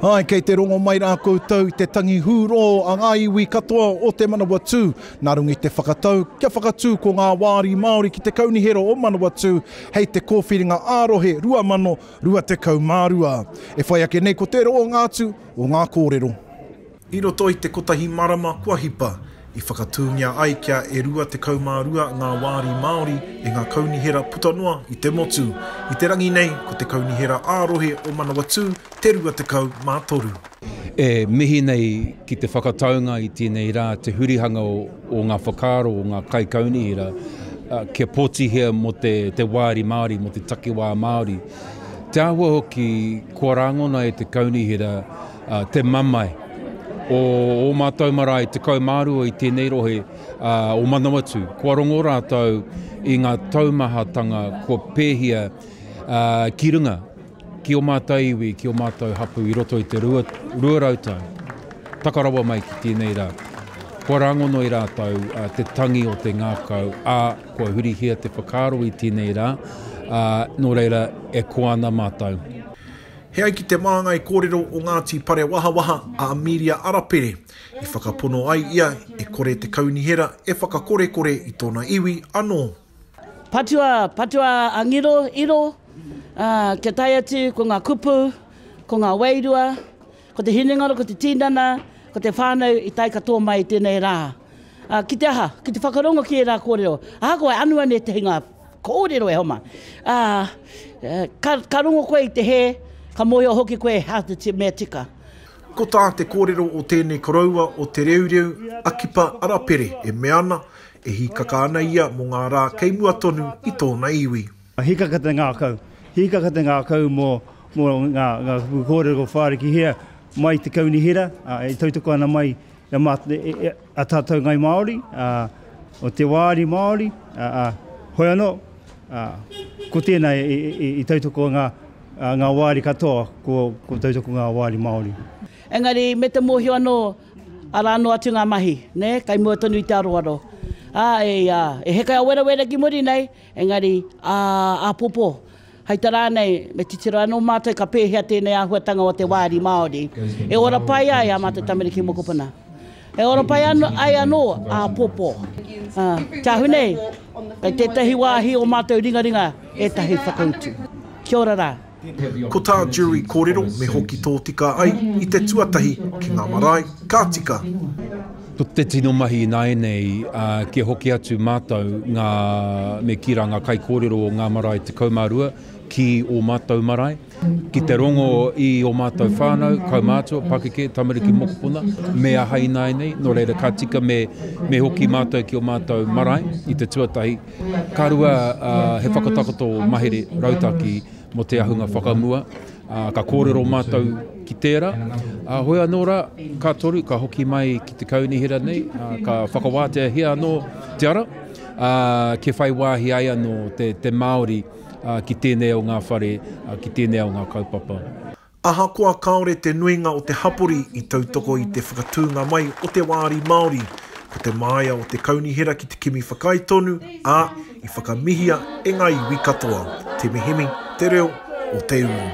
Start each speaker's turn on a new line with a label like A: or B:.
A: Āe, kei te rongo mai rā koutou i te tangi hūrō a ngā iwi katoa o Te Manawatū, nā runga i te whakatau kia whakatū ko ngā Wāri Māori ki te Kaunihera o Manawatū hei te Kōwhiringa ā-Rohe 2018. 22. E whai ake nei ko te roanga atu o ngā kōrero. I roto i te kotahi marama kua hipa, i whakatūngia ai kia e 22 ngā wāri Māori e ngā kaunihera puta noa i te motu. I te rangi nei, ko te Kaunihera ā-Rohe o Manawatū te 23. E mihi nei ki te whakataunga i tēnei rā te hurihanga o ngā whakaaro o ngā kaikaunihera kia pōtihia mō te wāri Māori, mō te takiwā Māori. Te āhua hoki kua rāngona e te kaunihera te mamae o ō mātou marae 12 i tēnei rohe o Manawatū. Kua rongo rātou i ngā taumahatanga kua pēhia ki runga. Ki o mātou iwi, ki o mātou hapū i roto i te rua, rua rau tau, taka rawa mai ki tēnei rā, kua rāngono i rātou te tangi o te ngākau, ā, kua hurihia te whakaaro i tēnei rā, ā, nō reira, e koa ana mātou. He ai ki te māngai kōrero o Ngāti Parewahawaha a Amelia Arapere, i whakapono ai ia e kore te kaunihera e whakakorekore i tōna iwi anō. Patua, patua a Ngiro, iro, ā, kia tae atu ko ngā kupu, ko ngā wairua, ko te hinengaro, ko te tīnana, ko te whānau i tae katoa mai i tēnei rā. Ā, ki te aha? Ki te whakarongo ki ērā kōrero. Ahakoa e anu ana ētahi ngā kōrero e homa, ā, ka, ka rongo koe i te hē, ka mōhio hoki koe he aha te mea tika. Ko tā te kōrero o tēnei koroua o Te Reureu, a Kipa Arapere, e mea ana, E hīkaka ana ia mō ngā rā kei mua tonu i tōna iwi. Hīkaka te ngākau. Hīkaka te ngākau mō ngā kupu kōrero ko Whārikihia mai i te kaunihera, e tautoko ana mai i a tātou Ngāi Māori, o te wāri Māori, hoi anō, ko tēnā i tautoko ngā wāri katoa, ko tautoko ngā wāri Māori. Engari me te mōhio anō. Arā noa atu ngā mahi, nē, kei mua tonu i te aroaro. Ā, e ia, e heke a werawera ki muri nei, engari, ā, āpōpō, hei tā rānei, me titiro anō mātou ka pēhea tēnei āhuatanga o te wāri Māori e ora pai ai ā mātou tamariki mokopuna. E ora pai ai anō, āpōpō. Ā, te ahu nei, kei tētahi wāhi o mātou ringaringa ētahi whakautu. Kia ora rā. Ko tā Jury kōrero me hoki tōtika ai i te tuatahi ki ngā marae, ka tika. Ko te tino mahi ināianei, kia hoki atu mātou ngā, me kī rā ngā kaikōrero o ngā marae 12 ki ō mātou marae, ki te rongo i ō mātou whānau, kaumātua, pakeke, tamariki, mokopuna, me aha ināianei, nō reira ka tika me hoki mātou ki ō mātou marae i te tuatahi. Ka rua, he whakatakoto mahere rautaki mō te ahunga whakamua, ka kōrero mātou ki tērā. Heoi anō rā, ka toru, ka hoki mai ki te kaunihera nei, ka whakawāteahia anō te ara, kia whai wāhi ai anō te Māori ki tēnei o ngā whare, ki tēnei o ngā kaupapa. Ahakoa kāore te nuinga o te hapori i tautoko i te whakatūnga mai o te wāri Māori, ko te māia o te kaunihera ki te kimi whakaae tonu, ā, i whakamihia e ngā iwi katoa. Te Mihimi, Te Reo o te Uru.